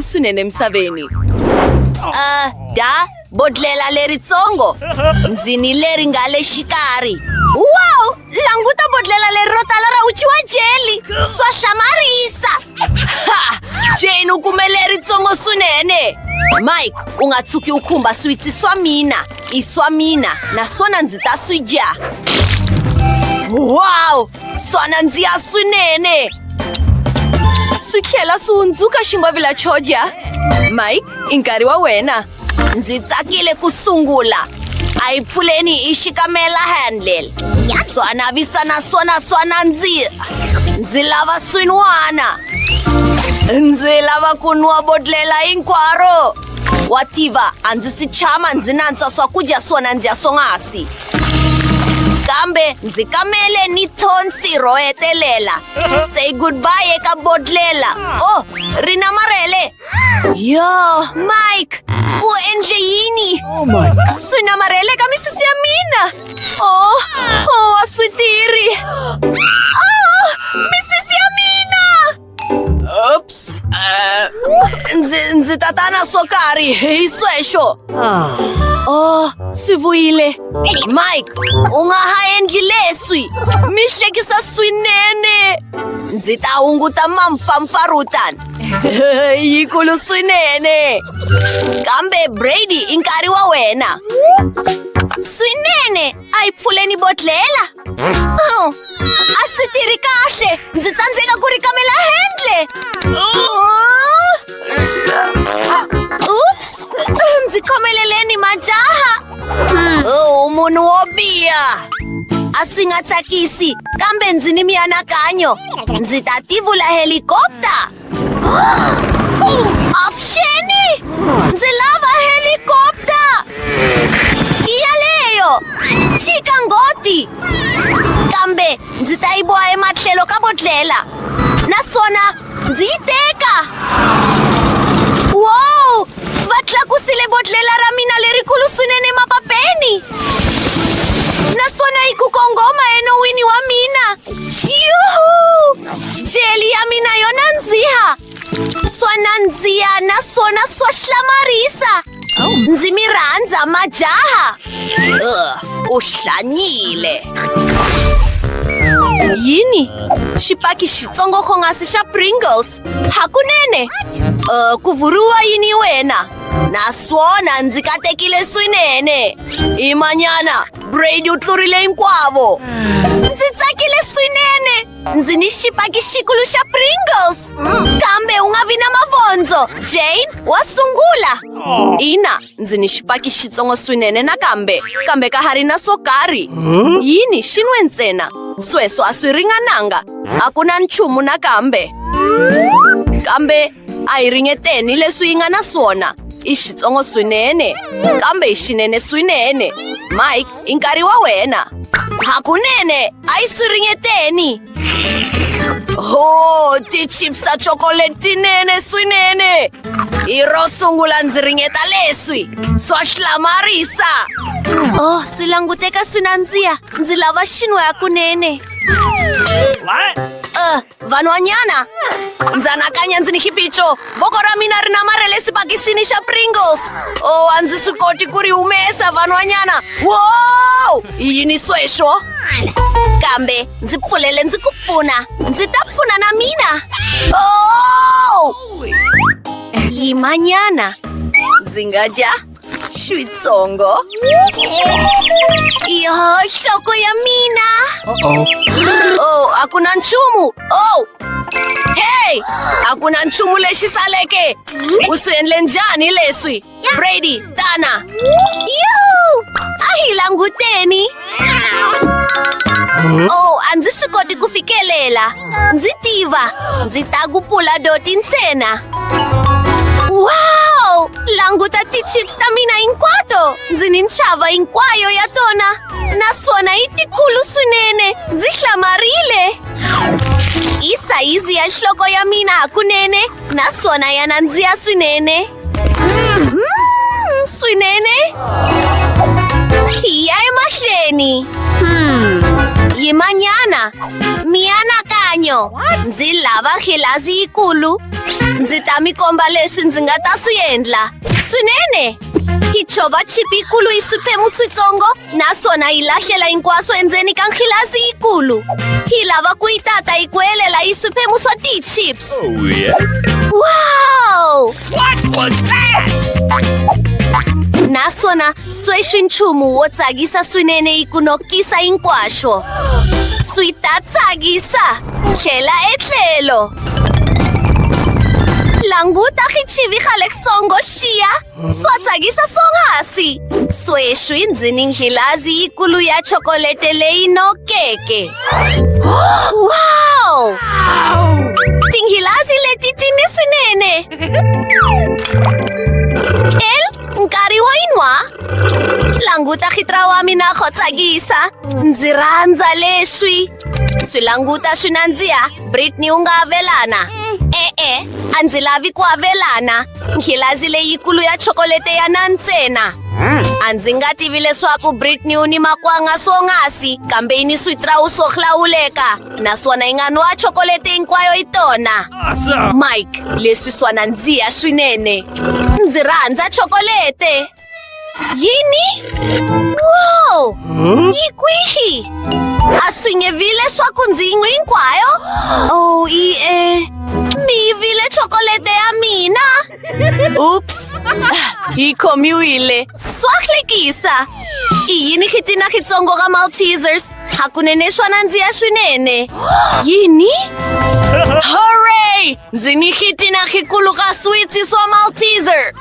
swinene emisaveni uh, da bodlela leritsongo ndzini leri nga le xikarhi wow languta bodlela leri ro tala ra uchiwa jeli swa hlamarisa jeni u kume leritsongo swinene mike u nga tshuki u khumba switsi swa mina i swa mina naswona ndzi ta swi dya wow swa nandziha swinene swi tlhela swi hundzuka ximbwavi la choja mike i nkarhi wa wena ndzi tsakile ku sungula a yi pfuleni i xikamela handle swa navisa naswona swa nandziha ndzi lava swin'wana ndzi lava ku nwa bodlela hinkwaro wativa a ndzi si tshama ndzi nantswa swakudya swo nandziha swonghasi kambe ndzi kamele ni thonsi ro hetelela say goodbye eka bodlela o oh, ri na marhele yo mike u endle yini oh swi na marhele ka misisi ya mina o oh, o oh, wa swi tiri Ups! Eh, ndzi, ndzi ta ta na swo karhi hi sweswo. Ah. Oh, swi vuyile. Mike, u nga ha endli leswi. Mi hlekisa swinene. Ndzi ta hunguta mampfampfarhutana. Yikulu swinene. Kambe Brady i nkarhi wa wena. Swinene! Ai pfuleni botlela? Oh, a swi tirhi kahle! Ndzi tsandzeka ku rikamela handle! Oops! Ndzi khomeleleni majaha! Oh, munhu wo biha! A swi nga tsakisi, kambe ndzi ni mianakanyo! Ndzi ta tivula helikopta! Avuxeni! Ndzi lava helikopta! I yaleyo! Chika ngoti! Kambe ndzi ta yi boha ematlhelo ka bodlhela naswona ndzi yi teka! Wow! Va tlakusile bodlhela ra mina lerikulu swinene emapapeni! Naswona yi ku kongoma enon'wini wa mina! Jelly ya mina yo nandziha swa nandziha naswona swa hlamarisa ndzi mi rhandza majaha u hlanyile yini xipaki xitsongo xongasi xa pringles hakunene uh, ku vuriwa yini wena naswona ndzi katekile swinene i manyana brady u tlurile hinkwavo ndzi tsakile swinene ndzi ni xipaki xikulu xa pringles kambe u nga vi na mavondzo jane wa sungula ina ndzi ni xipaki xitsongo swinene nakambe kambe ka ha ri na swo karhi yini xi nwe ntsena sweswo a swi ringananga a ku na nchumu nakambe kambe A hi ringeteni leswi yi nga na swona. I xitsongo swinene, kambe i xinene swinene. Mike, i nkarhi wa wena. Hakunene, a yi swi ringeteni. Oh, ti-chips ta chocolate tinene swinene. Hi ro sungula ndzi ringeta leswi. Swa hlamarisa. Oh, swi languteka swi nandziha. Ndzi lava xinwa hakunene. What? Uh, vanhwanyana ndza nakanya ndzi ni xiphiqo voko ra mina ri namarhele sibakisini xa pringles o oh, a ndzi swi koti ku ri humesa vanhwanyana wo i yini sweswo kambe ndzi pfulele ndzi ku pfuna ndzi ta pfuna na mina o oh! yimanyana ndzi nga dya Xitsongo. Iyo, shoko ya mina. Uh-oh. Oh, aku na nchumu. Oh! Hey! Aku na nchumu lexi saleke. U swi endle njhani leswi? Brady, tana. Yoo! A hi languteni. Oh, a ndzi swi koti ku fikelela. Ndzi tiva. Ndzi ta ku pula doti ntsena. Wow! Languta ti-chips ta mina hinkwato! Ndzi ni nxava hinkwayo ya tona. Naswona yi tikulu swinene. Ndzi hlamarile. I sayizi ya nhloko ya mina hakunene. naswona ya nandziha swinene mm, mm, swinene ya emahlweni hmm. yimanyana mianakanyo ndzi lava khilazi yikulu ndzi ta mi komba leswi ndzi nga ta swi endla swinene hi chova chipi yikulu yi swiphemu switsongo naswona yi lahlela hinkwaswo endzeni ka nkhilazi yikulu hi lava ku yi tata yi ku helela yi swiphemu swa tichips Oh, yes. Wow! What was that? Naswona sweswi nchumu wo tsakisa swinene yi ku nokisa hinkwaswo. Swi ta tsakisa. Tlhela etlhelo. Languta khichivi xa le songo xiya. Swa tsakisa swonghasi! Sweswi ndzi ni nghilazi yikulu ya chokolete leyi nokeke. Wow! Tinghilazi leti ti ni swinene! El, nkarhi wo yi nwa? Languta khitra wa mina kho tsakisa! Ndzi rhandza leswi! swi languta swi nandziha britney u nga avelana e-e a ndzi lavi ku avelana nkhilazi leyikulu ya chokolete ya na ntsena a ndzi nga tivi leswaku britney u ni makwanga swongasi kambe yi ni switirawu swo hlawuleka naswona yi nga nwa chokolete hinkwayo yi tona mike leswi swa nandziha swinene ndzi rhandza chokolete Jini? Wow! Yi kwihi? A swi nge vi leswaku ndzi yi n'wi hinkwayo? Oh, i e mi yivile chokolete ya mina. Oops! Hi khomiwile. Swa hlekisa. I yini khitina xitsongo ka Maltesers? hakunene swa nandziha swinene yini hooray ndzi ni khitina khikulu ka switsi swa malteser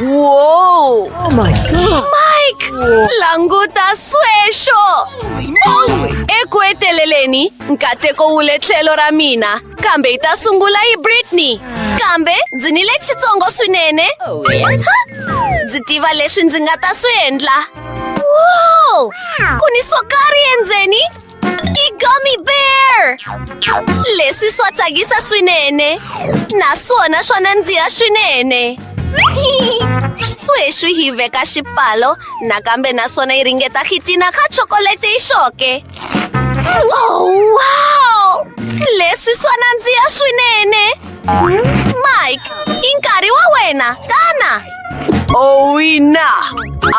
wow oh my god mike languta swesho eku heteleleni nkateko wu le tlhelo ra mina kambe yi ta sungula yi britney kambe ndzi ni le xitsongo swinene oh, ndzi tiva leswi ndzi nga ta swi endla Wow! Kuni sokari enzeni? I-gummy bear! Leswi swa tsakisa swinene. Naswona swa nandziha swinene. Sweswi hi veka xipfalo nakambe naswona yi ringeta khitina ka chokolete yi xoke. Oh, wow! Leswi swa nandziha swinene. Mike, i nkarhi wa wena, xana? Owina!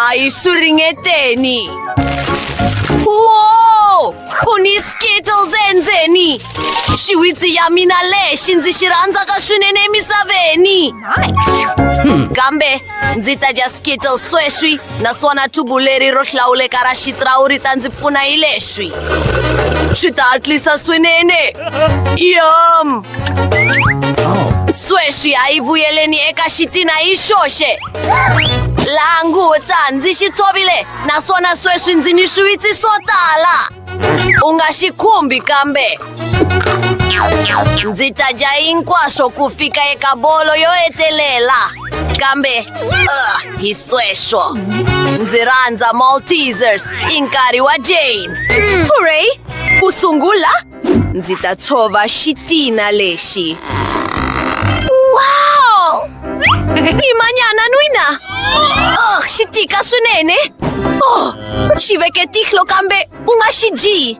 A yi suringeteni! Wow! Ku ni Skittles endzeni! Xiwitsi ya mina lexi ndzi xi rhandzaka swinene emisaveni! Hmm. Kambe ndzi ta dya Skittles sweswi naswona thubu leri ro hlawuleka ra xitirawu ri ta ndzi pfuna hi leswi! Swi ta hatlisa swinene! Yum! sweswi a yi vuyeleni eka xitina yi xoxe laha nguta ndzi xi tshovile naswona sweswi ndzi ni swiwitsi swo tala u nga xi khumbi kambe ndzi ta dya hinkwaswo ku fika eka bolo yo hetelela kambe uh, hi sweswo ndzi rhandza maltesers i nkarhi wa jane hurray ku sungula ndzi ta tshova xitina lexi wow i manyana nwina oh, xi tika swinene oh, xi veke tihlo kambe u nga xi dyi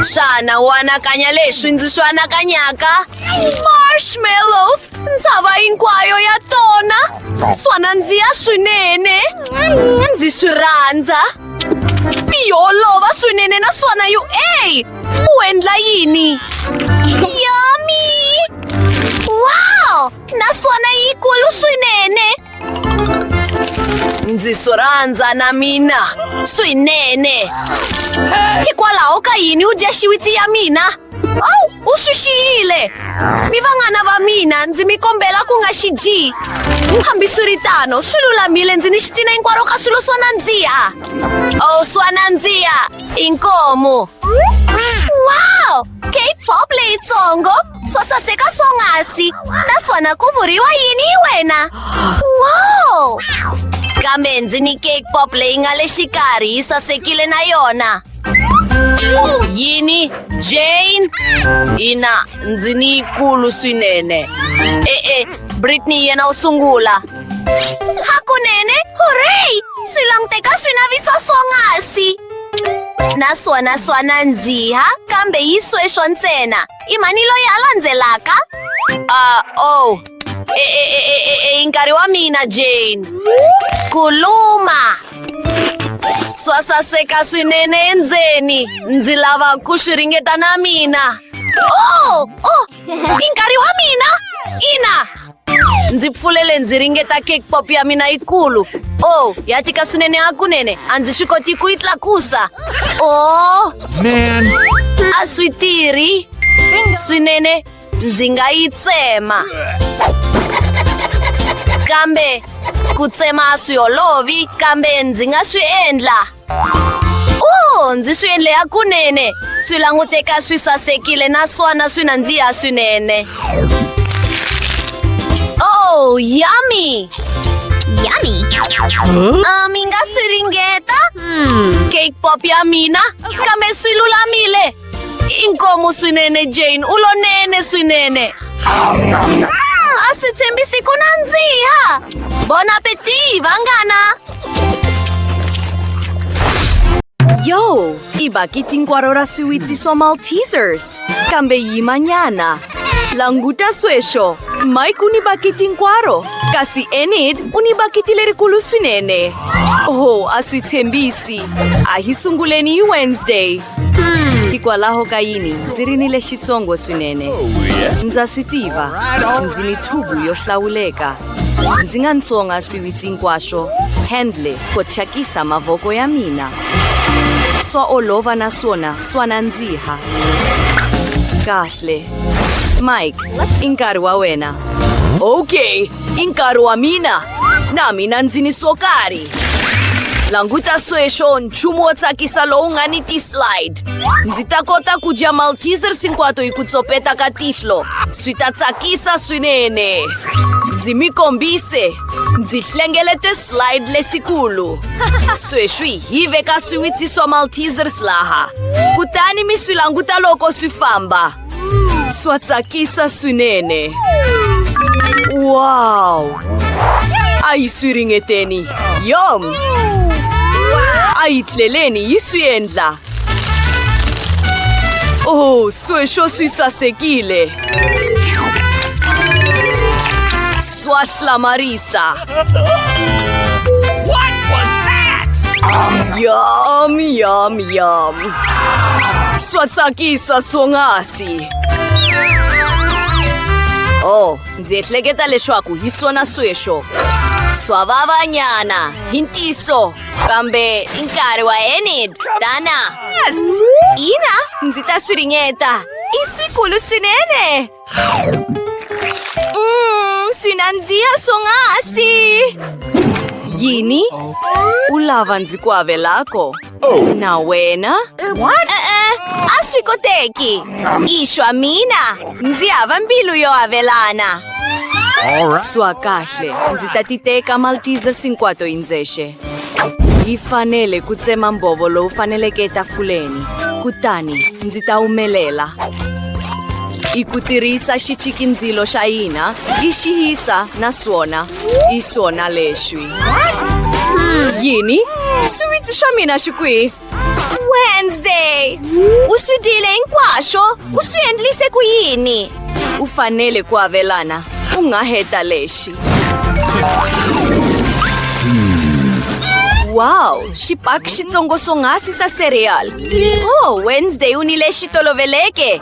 xana u anakanya leswi ndzi swi anakanyaka marshmallows ntshava hinkwayo ya tona swa nandziha swinene ndzi swi rhandza yi olova swinene naswona yu a U endla yini? Yummy! Wow! Naswona yi kulu swinene! Ndzi swi rhandza na mina swinene! Hikwalaho ka yini u dya xiwitsi ya mina? Oh, u swi xiyile! Mi vanghana va mina ndzi mi kombela ku nga xi dyi! Hambiswiritano, swi lulamile ndzi ni xitina hinkwaro ka swilo swa nandziha! Oh, swa nandziha! Inkomo. Wow! K-pop leyitsongo swo saseka swonghasi naswona ku vuriwa yini hi wena wow kambe ndzi ni cake pop leyi nga le xikarhi yi sasekile na yona yini jane ina ndzi ni yikulu swinene e-e britney yena u sungula Hakunene! Hooray! Swi languteka swi navisa swonghasi! Naswona swa nandziha, kambe yi sweswo ntsena. I mani loyi a landzelaka? Ah, oh. E, e, e, e, e, e, i nkarhi wa mina, Jane. Kuluma! Swa saseka swinene endzeni. Ndzi lava ku swi ringeta na mina. Oh! Oh! i nkarhi wa mina ina ndzi pfulele ndzi ringeta cake pop ya mina yikulu o oh, ya tika swinene hakunene a ndzi swi koti ku yi tlakusa o oh. a swi tirhi swinene ndzi nga yi tsema kambe ku tsema a swi olovi kambe ndzi nga swi endla Oh, ndzi swi endle ya kunene swi languteka swi sasekile naswona swi nandziha swinene oh yummy Yummy. Ah, mi nga swi ringeta cake pop ya mina kambe swi lulamile inkomo swinene jane u lonene swinene a swi tshembisi ku nandziha bon appetit vanghana yo i bakiti hinkwaro ra swiwitsi swa maltesers kambe yimanyana languta sweswo mike u ni bakiti hinkwaro kasi enid u ni bakiti lerikulu swinene oh a swi tshembisi a hi sunguleni hi wednesday hikwalaho ka yini ndzi ri ni lexitsongo swinene ndza swi tiva ndzi ni thubu yo hlawuleka ndzi nga ntsonga swiwitsi hinkwaswo handle ko thyakisa mavoko ya mina swa olova naswona swa nandziha kahle mike i nkarhi wa wena okay I nkarhi wa mina na mina ndzi ni swo karhi. Languta sweswo nchumu wo tsakisa lowu nga ni ti-slide. Ndzi ta kota ku dya Maltesers hinkwato hi ku tsopeta ka tihlo. Swi ta tsakisa swinene. Ndzi mi kombise. Ndzi hlengelete slide lesikulu. Sweswi hi veka swiwitsi swa Maltesers laha. Kutani mi swi languta loko swi famba. Swatsakisa swinene. Wow! A yi swi ringeteni. Yom! A yi tleleni yi swi endla. Oh, sweswo swi sasekile. Swa hlamarisa. What was that? Yum, yum, yum. Swatsakisa swonghasi. Oh, ndzi ehleketa leswaku hi swona sweswo. Swa vavanyana, hi ntiso. Kambe i nkarhi wa Enid, Dana. Yes! Ina, ndzi ta swi ringeta. I swikulu swinene. Mmm, sinanzia song'asi! Yini? Ulava ndzi ku avelako? Oh. Na wena? What? E-e, a swi koteki. Ishwa mina, ndzi hava mbilu yo avelana. Swa kahle, ndzi ta ti teka Maltesers hinkwato hi ndzexe. yi fanele ku tsema mbhovo lowu faneleke etafuleni kutani ndzi ta wumelela i ku tirhisa xichikindzilo xa hina i xi yisa na swona i swona lexi yini swiwitsi swa mina xi kwihi Wednesday! U swi dyile hinkwaswo, u swi endlise ku yini? U fanele ku avelana, u nga heta lexi. Wow, xipaki xitsongo swonghasi sa cereal. Oh, Wednesday u ni lexi toloveleke.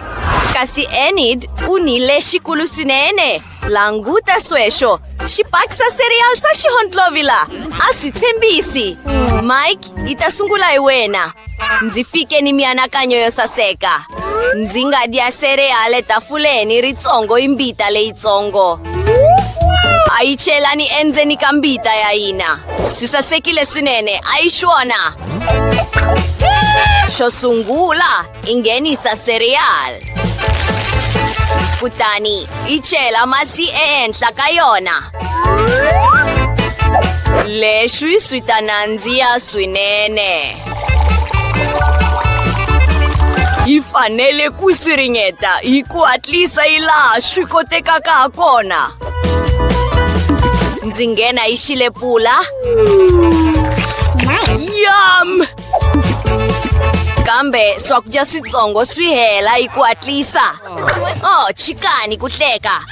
Kasi Enid u ni lexikulu swinene. languta sweswo xi bakisa serial xa xihondlovila a swi tshembisi mike yi ta sungula hi wena ndzi fike ni mianakanyo yo saseka ndzi nga dya serial etafuleni ritsongo i mbita leyitsongo a yi chelani endzeni ka mbita ya hina swi sasekile swinene a yi xona xo sungula Ingeni sa cereal. Kutani i chela masi ehenhla ka yona. Leswi swi ta nandziha swinene. Yi fanele ku swi ringeta hi ku hatlisa hi laha swi kotekaka ha kona. Ndzi nghena hi xilepula. Yum! kambe swakudya switsongo swi hela hi ku hatlisa oh chikani ku hleka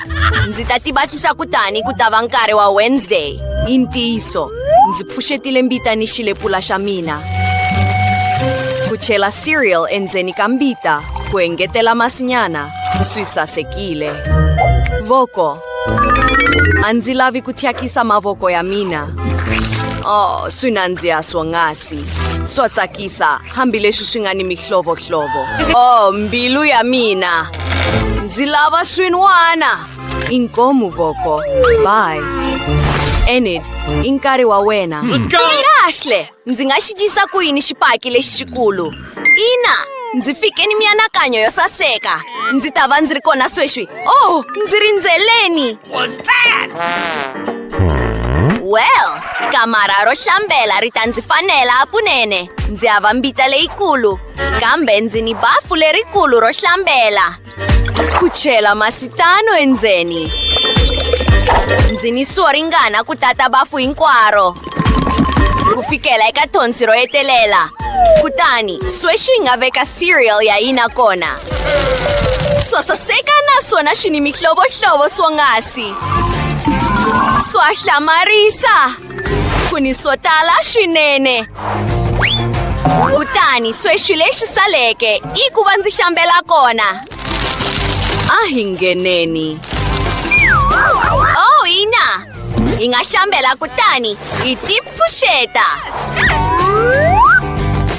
ndzi ta tibatisa kutani ku ta va nkarhi wa wednesday i ntiyiso ndzi pfuxetile mbita ni xilepula xa mina ku chela cereal endzeni ka mbita ku engetela masinyana swi sasekile voko A ndzi lavi ku thyakisa mavoko ya mina. Oh, swi nandziha swonghasi. Swa tsakisa, hambileswi swi nga ni mihlovohlovo. Oh, mbilu ya mina. Ndzi lava swin'wana. Inkomu voko. Bye. Enid, i nkarhi wa wena. Kahle. Ndzi nga xi dyisa ku yini xipaki lexi xikulu? Ina, ndzi fike ni mianakanyo yo saseka. Ndzi ta va ndzi ri kona sweswi. Oh, ndzi rindzeleni. Well, kamara ro hlambela ri ta ndzi fanela hakunene. Ndzi hava mbita leyikulu, kambe ndzi ni bafu lerikulu ro hlambela. Ku chela masitano endzeni. Ndzi ni swo ringana ku tata bafu hinkwaro. Ku fikela eka thonsi ro hetelela. Kutani, sweswi hi nga veka cereal ya hina kona. Swa saseka naswona swi ni mihlovohlovo swonghasi. Swa hlamarisa! Kuni swo tala swinene. Kutani sweswi lexi saleke i ku va ndzi hlambela kona. A hi ngheneni. Oh, ina! Hi nga hlambela kutani hi tipfuxeta.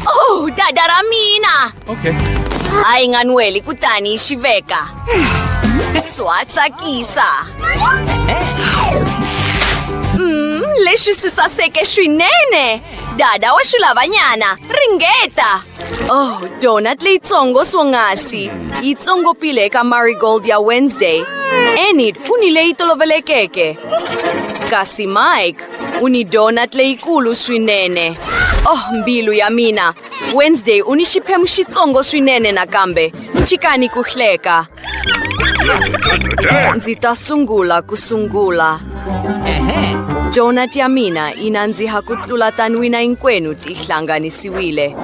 Oh, dada ra mina! Okay. Hayi nganweli kutani xi veka. Swa tsakisa. Mm, lexi si saseke swinene. Dada wa xilavanyana, ringeta. Oh, donut leyitsongo swonghasi. Yi tsongopile eka marigold ya Wednesday. Enid u ni leyi tolovelekeke. Kasi Mike u ni donut leyikulu swinene. Oh, mbilu ya mina. Wednesday u ni xiphemu xitsongo swinene nakambe. Chikani ku hleka. Ndzi ta sungula ku sungula. Donut ya mina yi nandziha ku tlula tanwina hinkwenu ti hlanganisiwile.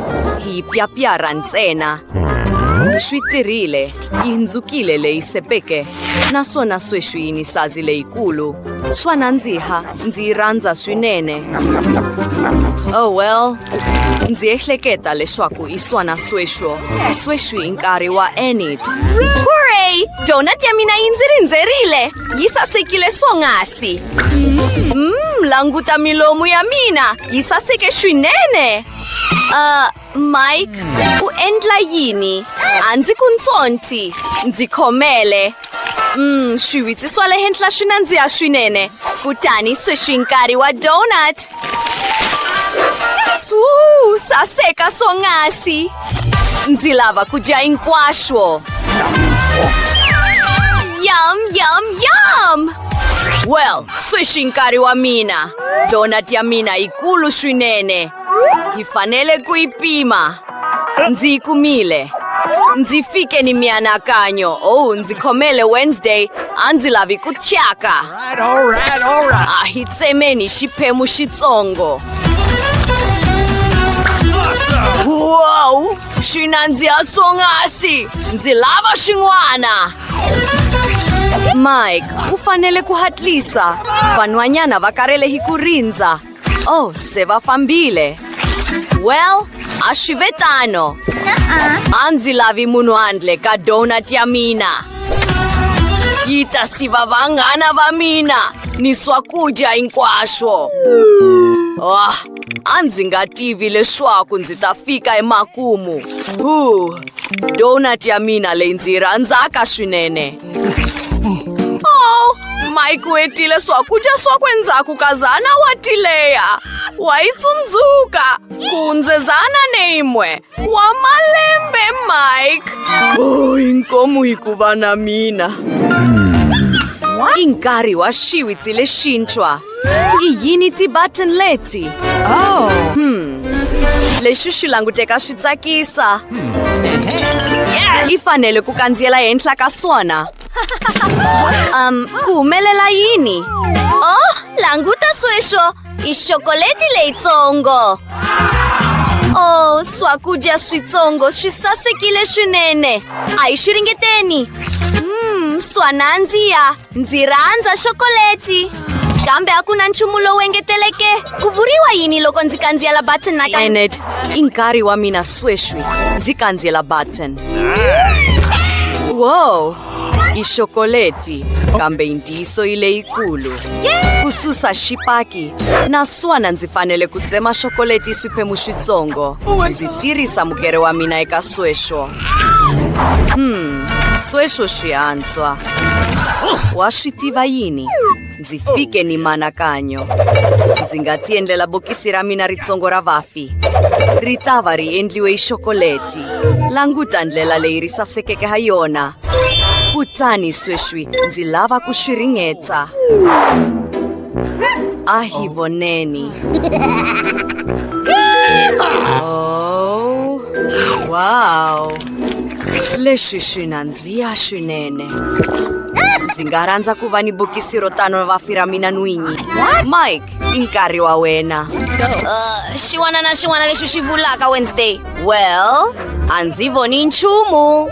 Hi yi pyapyarha ntsena. Swi tirhile, yi hundzukile leyi sepeke, naswona sweswi yi ni sazi leyikulu. Swa nandziha. ndzi yi rhandza swinene oh well ndzi ehleketa leswaku i swana sweswo sweswi i nkarhi wa enid hurray donut ya mina yi ndzi rindzerile yi sasekile swonghasi mm, languta milomu ya mina yi saseke swinene uh, Mike, u endla yini? A ndzi ku ntsonti, ndzi khomele. Mm, swiwitsi swa le henhla swi nandziha swinene. Kutani sweswi nkarhi wa donut. Swuu, saseka swonghasi. Ndzi lava ku dya hinkwaswo. Yum, yum, yum! Well, sweswi nkarhi wa mina. Donut ya mina yikulu swinene. Hi fanele ku yi pima. Ndzi yi kumile. Ndzi fike ni mianakanyo. Oh, ndzi khomele Wednesday. A ndzi lavi ku thyaka. A hi tsemeni xiphemu xitsongo. Wow! Swi nandziha swonghasi! Ndzi lava swin'wana! Mike, u fanele ku hatlisa. Vanhwanyana va karhele hi ku rindza. Oh, se va fambile. Well, ashvetano. Anzi lavi munuandle ka donut ya mina. Yita si va vanghana va mina ni swakudya hinkwaswo. Oh, a ndzi nga tivi leswaku ndzi ta fika emakumu. Huh, donut ya mina leyi ndzi yi rhandzaka swinene. Oh, Mike u hetile swakudya swakwe ndzhaku ka zana wa tileya wa yi tsundzuka kundze zana neyimwe wa malembe Mike oh, inkomu hi ku va na mina i nkarhi wa xiwitsi lexintshwa yini ti-button leti oh. hmm. lexi xi languteka swi tsakisa yes. i fanele ku kandziyela henhla ka swona um ku humelela yini oh languta sweswo i xokoleti leyitsongo oh swakudya switsongo swi sasekile swinene a hi swi ringeteni mm, swa nandziya ndzi rhandza xokoleti kambe a ku na nchumu lowu engeteleke ku vuriwa yini loko ndzi kandziyela button na enet i nkarhi wa mina sweswi ndzi kandziyela button wow i xokoleti kambe yintiyiso yi leyikulu ku susa xipaki naswona ndzi fanele ku tsema xokoleti yi swiphemu switsongo ndzi tirhisa mugere wa mina eka sweswo hmm sweswo swihandla Swa. Wa swi tiva yini? Ndzi fike ni manakanyo. Ndzi nga ti endlela bokisi ra mina ritsongo ra vafi. Ri ta va ri endliwe hi xokoleti. Languta ndlela leyi ri sasekeke ha yona. Kutani sweswi ndzi lava ku swi ringeta. A hi voneni. Oh, wow. Leswi swi nandzika. Ziya swinene. Ndzi nga rhandza ku va ni bokisi ro tano vafi ra mina n'winyi. Mike, i nkarhi wa wena. Uh, xin'wana na xin'wana lexi xi vulaka Wednesday. Well, a ndzi voni nchumu.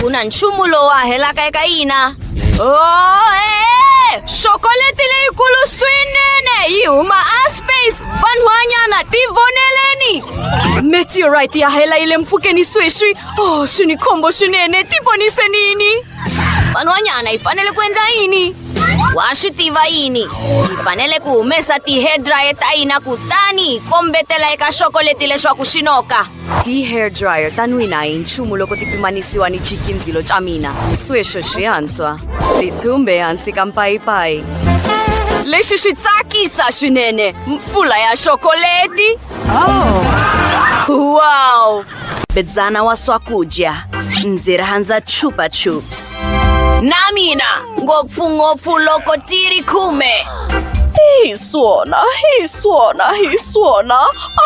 Ku na nchumu lowu a helaka eka yina. Oh, eh, xokoleti leyikulu swinene yi huma a space vanhwanyana tivoneleni meteorite ya hela yi le mpfhukeni sweswi Oh, sunikhombo swinene ti ponise nini van'wanyana hi fanele ku endla yini wa swi tiva yini hi fanele ku humesa ti-hair dryer ta hina kutani hi kombetela eka xoko leti leswaku swi noka ti-hair dryer ta n'wina hi nchumu loko ti pimanisiwa ni chikindzilo xa mina sweswo swi hantswa ti thumbe hansi ka mpayipayi lexi swi tsakisa swinene mpfula ya xokoleti wow Bedzana wa swakudya ndzi rhandza chupa chups na mina ngopfungopfu loko ti ri khume hi swona hi swona hi swona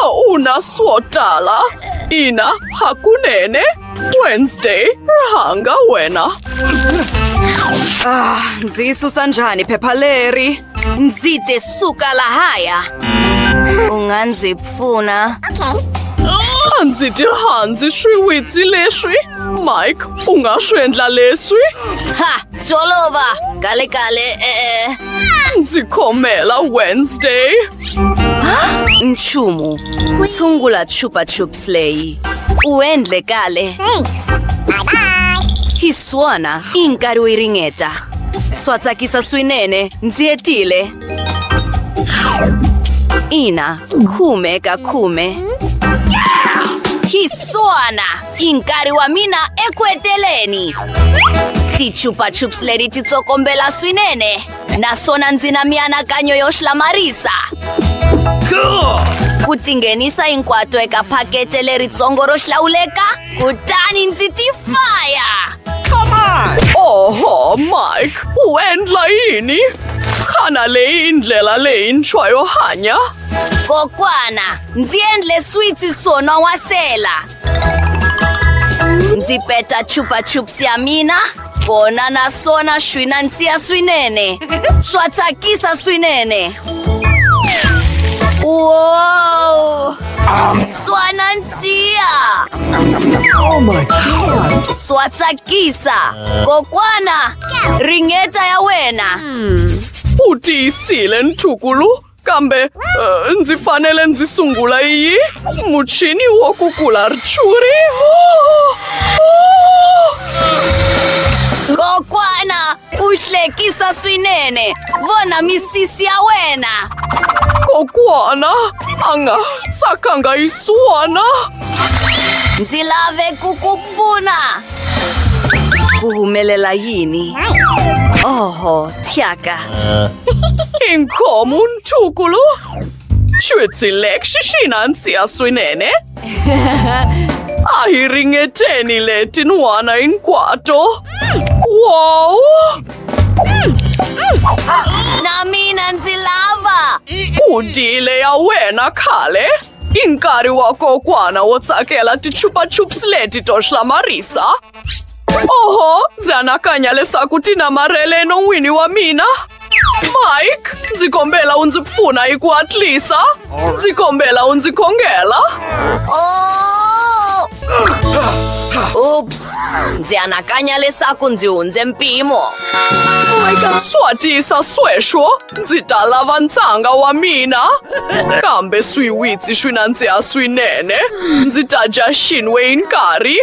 a wu na swo tala ina hakunene wednesday rhanga wena ah, ndzi yi susa njhani phepha leri Ndzi te suka lahaya. U nga ndzi pfuna. A ndzi ti rhandzi swiwitsi leswi. Mike, u nga swi endla leswi? Ha! Swi olova. Kalekale, e-e. Ndzi khomela Wednesday. Nchumu. Sungula chupa chups. Slay. U endle kahle. Thanks. Bye bye. Hi swona i nkarhi wo yi ringeta. Swa tsakisa swinene, ndzi hetile. Ina, khume ka khume. Hi swona i nkarhi wa mina eku heteleni. Ti-chupa chups leti ti tsokombela swinene. naswona ndzi na mianakanyo yo hlamarisa ku tinghenisa hinkwato eka phakete leritsongo ro hlawuleka kutani ndzi tifaya oho mike u endla yini xana leyi ndlela leyintshwa yo hanya kokwana ndzi endle switsi son'wa wasela Ndzi peta chupa chups ya mina kona naswona swi nandziha swinene swa tsakisa swinene wow swa nandziha swa tsakisa kokwana ringeta ya wena u tiyisile ntukulu Kambe uh, ndzi fanele ndzi sungula yi muchini wo kukula rchuri oh, oh. kokwana u hlekisa swinene vona misisi ya wena kokwana a nga tsakanga yi suwana ndzi lave ku ku Buna! Ku humelela yini? Oho, thyaka. Inkomu ntukulu. Xwitsilek xixina ntsiya swinene. A hi ringeteni leti n'wana hinkwato. Wow! Na mina ndzi lava. Udile ya wena khale. I nkarhi wa kokwana wo tsakela tichupa-chups leti to hlamarisa. Oho, ndzi anakanya leswaku ti namarhele no n'wini wa mina. Mike, ndzi kombela u ndzi pfuna hi ku hatlisa. Ndzi kombela u ndzi khongela. Ups, ndzi anakanya leswaku ndzi hundze mpimo. Swa tisa sweswo. Ndzi ta lava ntshanga wa mina kambe swiwitsi swi nandziha swinene ndzi ta dya xinwe hi nkarhi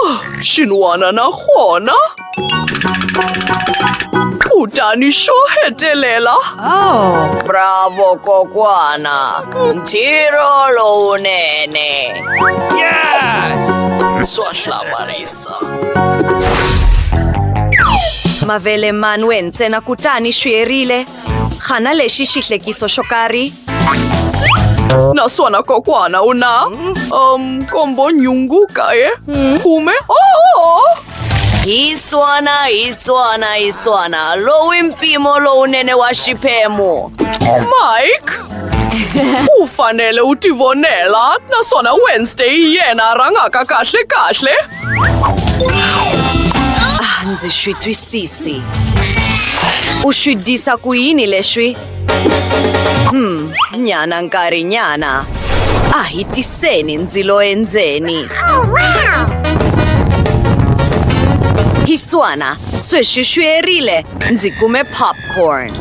Ah, xin'wana na xona kutani xo hetelela bravo kokwana ntirho lowunene yes swa hlamarisa Mavele manwe ntsena kutani swi herile. Xana lexi xi hlekiso xo karhi? Naswona kokwana u na um kombo nhungu kaye khume oh! Hi swona, hi swona, hi swona. Lowu i mpimo lowunene wa xiphemu. Mike u fanele u tivonela naswona wednesday hi yena a rhangaka kahle kahle ah, ndzi swi twisisi u swi disa ku yini leswi hmm nyana nkarhi nyana a hi tiseni ndzilo endzeni oh, wow! hiswana sweswi swi erile Ndzi kume popcorn.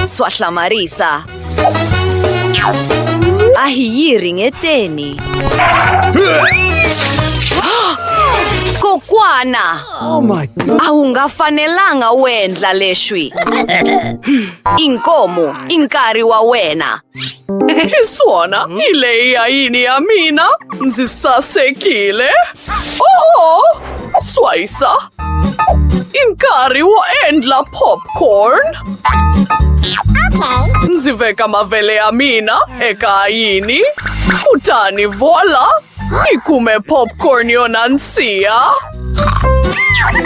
Swa hlamarisa. A hi yi ringeteni. Kokwana! Oh my God. A wu nga fanelanga u endla leswi. Inkomu, i nkarhi wa wena. Suona, i lei aini a mina, nzi sa sekile. Oh, swaisa. Inkari wo endla popcorn. Okay. Ndzi veka mavele ya mina eka ayini. Kutani vola, i kume popcorn yo nandziha.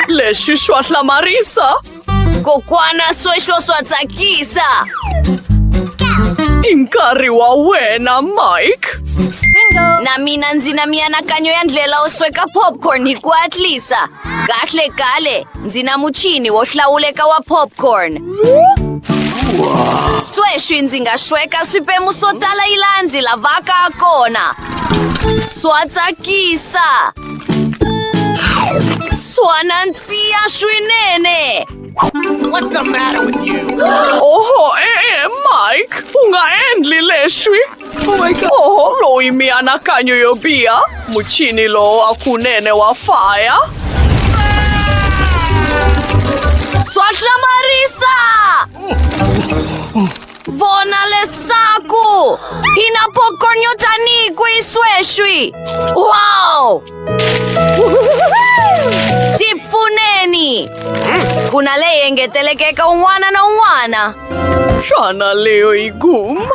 Lexi xwa hlamarisa Kokwana sweswo swa tsakisa. I nkarhi wa wena, Mike. Na mina ndzi na mianakanyo ya ndlela wo sweka popcorn hi ku hatlisa. Kahle kale, ndzi na muchini wo hlawuleka wa popcorn. Sweswi ndzi nga sweka swiphemu swo tala yi laha ndzi lavaka ha kona. Swa tsakisa. Swanansia swinene. What's the matter with you? Oho, eh, eh, Mike, unga endli leswi. Oh my God. Oho, loyi mianakanyo yo biha, muchini lowo wa kunene wa faya. Swa hlamarisa! Vona leswaku hi na popcorn yo tanihi kwihi sweswi wow ti pfuneni ku na leyi engeteleke eka un'wana na un'wana xana leyo yi gum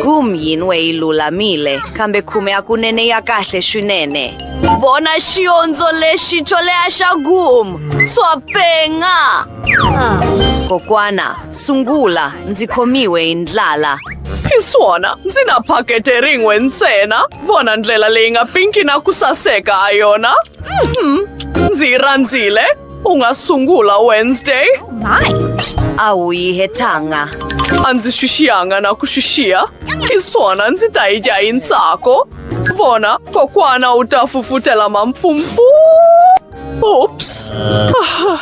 gum yin we yi lulamile kambe khume ya kunene ya kahle swinene vona xiondzo lexi xo leha xa gum swa penga kokwana Sungula, ndzi khomiwe hi ndlala. Hi swona, ndzi na phakete rin'we ntsena. Vona ndlela leyi nga pinki na ku saseka ha yona. Mhm, Ndzi yi rhandzile. U nga sungula Wednesday. A wu yi hetanga. A ndzi swi xiyanga na ku swi xiya. Hi swona, ndzi ta yi dya hi ntsako. Vona, kokwana u ta fufutela mampfumpfu. Ups! Ah,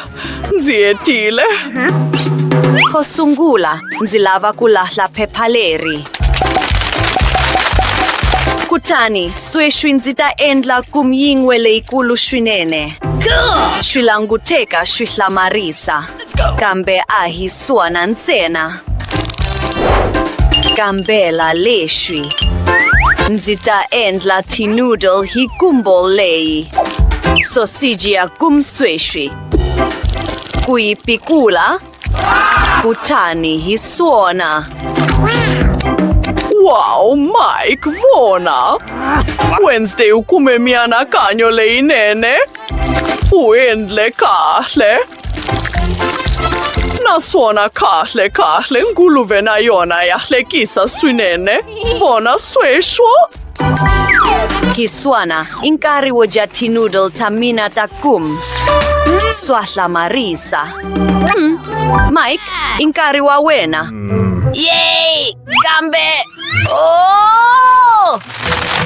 ndzi hetile. Xo sungula, ndzi lava ku lahla phepha leri. Kutani, sweswi ndzi ta endla kumyin'we leyikulu swinene. Swi languteka swi hlamarisa. kambe a hi swona ntsena kambela leswi ndzi ta endla tinoodle hi kumbo leyi sosiji ya kumsweswi ku yi pikula kutani hi swona wow mike vona wednesday u kume mianakanyo leyinene u endle kahle naswona kahle kahle nguluve na yona ya hlekisa swinene vona sweswo kiswana i nkarhi wo dya tinoodle ta mina ta kum swa hlamarisa mm. mike i nkarhi wa wena hmm. yey kambe oh!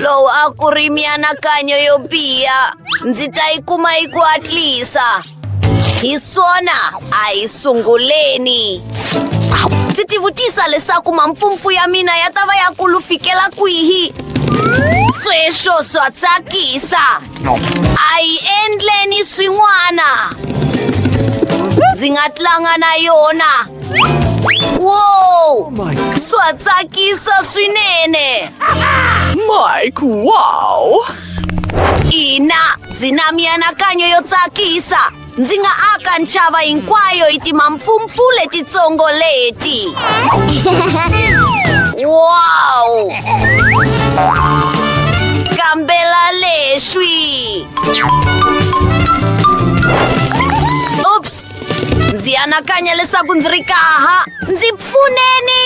lowu a ku ri mianakanyo yo biha ndzi ta yi kuma yi ku hatlisa hi swona a hi sunguleni ndzi tivutisa leswaku mampfumpfu ya mina ya ta va ya kulu fikela kwihi sweswo swa tsakisa a yi endleni swin'wana ndzi nga tlanga na yona wow swa tsakisa swinene mike wow ina ndzi na mianakanyo yo tsakisa ndzi nga aka ntshava hinkwayo hi timampfumpfu letitsongo leti wow kambela leswi ups ndzi anakanya leswaku ndzi ri kaha ndzi pfuneni